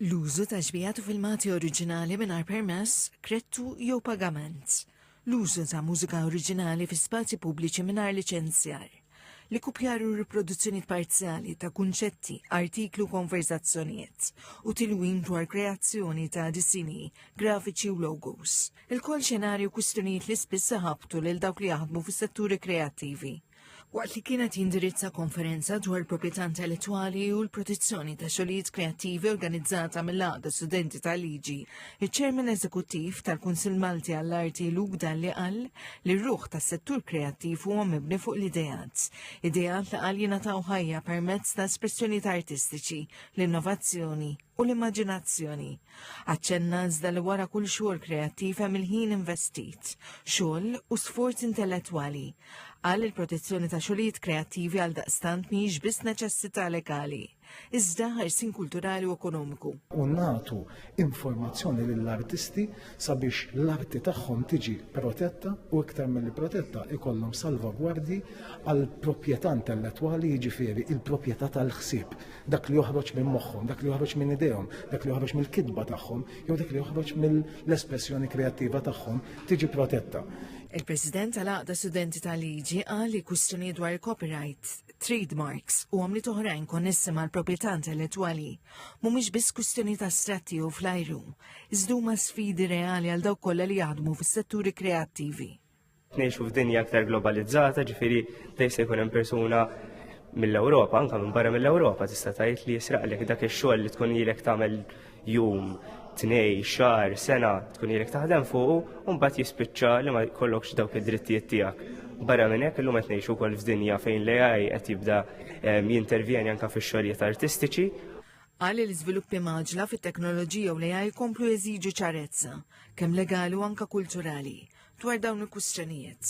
L-użu ta' xbiehat u filmati oriġinali mingħajr permess, krettu jew pagament. L-użu ta' mużika oriġinali fi spazji pubbliċi mingħajr liċenzjar. L-ikkupjar u riproduzzjonijiet parzjali ta' kunċetti, artikli u konversazzjonijiet u tilwim dwar kreazzjoni ta' disini, grafiċi u logos. Il-kol xenarju kwistjonijiet li spiss iħabbtu lil dawk li jaħdmu fis-setturi kreattivi. waqt li kienet jindirizza konferenza dwar proprjetà intellettwali u l-protezzjoni ta' xogħlijiet kreattivi organizzata mill-għaqda studenti tal-liġi, iċ-ċermen eżekuttiv tal-Kunsill Malti għall-Arti Luke Dalli qal li r-ruħ tas-settur kreattiv huwa mibni fuq l-ideat. Ideat li qal jingħataw ħajja permezz ta' espressjonijiet artistiċi, l-innovazzjoni u l-immaġinazzjoni. Aċċenna iżda li wara kull xogħol kreattiv hemm il-ħin investit, xogħol u sforz intellettwali. Qal il-protezzjoni ta' xogħlijiet kreattivi għal daqstant mhijiex biss neċessità legali, iżda ħarsin kulturali u ekonomiku. U nagħtu informazzjoni lill-artisti sabiex l-arti tagħhom tiġi protetta u iktar milli protetta ikollhom salvagwardji għal proprjetà intellettwali jiġifieri il-proprjetà tal-ħsieb, dak li joħroġ minn moħħhom, dak li joħroġ minn idejhom, dak li joħroġ mill-kitba tagħhom jew dak li joħroġ mill-espressjoni kreattiva tagħhom tiġi protetta. Il-President tal-Għaqda Studenti tal-Liġi qal li kwistjonijiet dwar il-copyright trade marks u għamliet oħrajn konnessi mal-proprjetà intellettwali mhumiex biss kwistjoni ta' stratti jew flajru, iżda huma sfidi reali għal dawk kollha li jaħdmu fis-setturi kreattivi. Ngħixu f'dinja aktar globalizzata, ġifieri dejjem se jkun hemm persuna mill-Ewropa, anke minn barra mill-Ewropa, tista' tgħid li jisraqlek dak ix-xogħol li tkun ilek tagħmel jum, tnej, xar, sena tkun jirek taħdem fuq, un bat jispiċċa li ma kollokx dawk id-drittijiet tiegħek. Barra minn hekk illum qed ngħixu wkoll f'dinja fejn l-AI qed jibda ehm, jintervjeni anke fix-xogħlijiet artistiċi Għal li l-iżviluppi maġla fit-teknoloġija u l-AI komplu jeżiġu ċarezza, kemm legali u anka kulturali, dwar dawn il-kustjonijiet.